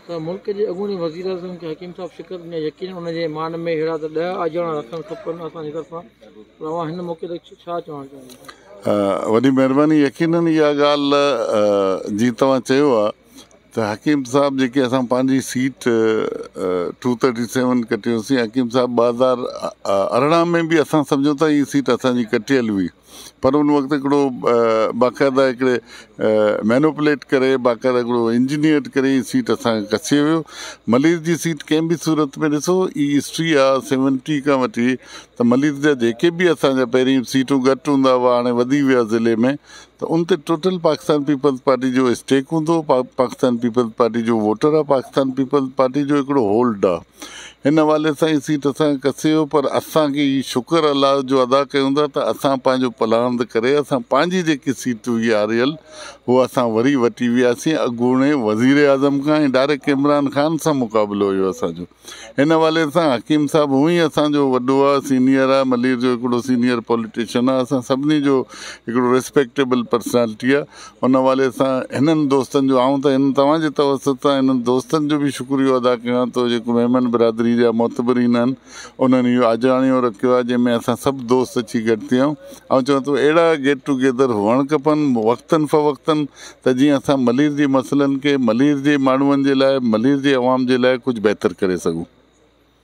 ته ملڪ جي اڳوڻي وزيراعظم کي حڪيم صاحب شڪست ڏني ۽ يقينن ان جي مان ۾ ههڙا ته ڏهه آجياڻا رکڻ کپن اسان جي طرفان پر اوهان هن موقعي تي ڇا چوڻ چاهيندا آهيو؟ وڏي مهرباني يقينن اها ڳالهه جي توهان چيو آهي ته حڪيم صاحب جيڪي اسان پنهنجي سيٽ ٽو ٿرٽي سيون ڪٽي هوسين حڪيم صاحب ٻه هزار ارڙهن ۾ به اسان سمجهون ٿا هي سيٽ اسان جي ڪٽيل هئي پر ان وقت هڪڙو باقاعده هڪڙي مينوپليٽ ڪري باقاعده هڪڙو انجنيئرڊ ڪري هي سيٽ اسان کي ڪسي ويو ملير جي سيٽ ڪنهن به صورت ۾ ڏسو هي هسٽري آ سيونٽي کان وٺي ته ملير جا جيڪي به اسان جا پهرين سيٽون گهٽ هوندا هئا هاڻي وڌي ويا ضلعي ۾ ته ان تي ٽوٽل پاڪستان پيپلز پارٽي جو اسٽيڪ هوندو پاڪستان پيپلز پارٽي جو ووٽر آ پاڪستان پيپلز پارٽي جو هڪڙو هولڊ آ هن حوالي سان اسين توسان ڪسي هو پر اسان کي هي شڪر الله جو ادا ڪيون ٿا ته اسان پنهنجو پلاند ڪري اسان پنهنجي جيڪي سيٽ هئي آريل هو اسان وري وٽي وياسين اڳوڻي وزيراعظم کان ۽ ڊائريڪٽ عمران خان سان مقابلو هيو اسان جو هن حوالي سان حڪيم صاحب هون ئي اسان جو وڏو آ سينيئر آ ملير جو هڪڙو سينيئر پوليٽيشن آ اسان سڀني جو هڪڙو ريسپيڪٽيبل پرسنالٽي آ ان حوالي سان هنن دوستن جو آئون ته هن توهان جي توسط سان هنن دوستن جو به شڪريو ادا ڪيان ٿو جيڪو ميمڻ برادري جا معتبرين آهن انهن اهو آجراڻيو رکيو آهي جنهن ۾ اسان سڀ دوست اچي گڏ ٿي آئون آئون چوان ٿو اهڙا گيٽ ٽو گيدر هئڻ کپن وقتن فوقتن ته جيئن اسان ملير جي مسئلن کي ملير جي ماڻهون جي لاء ملير جي عوام جي لاء ڪجهه بهتر ڪري سگهون.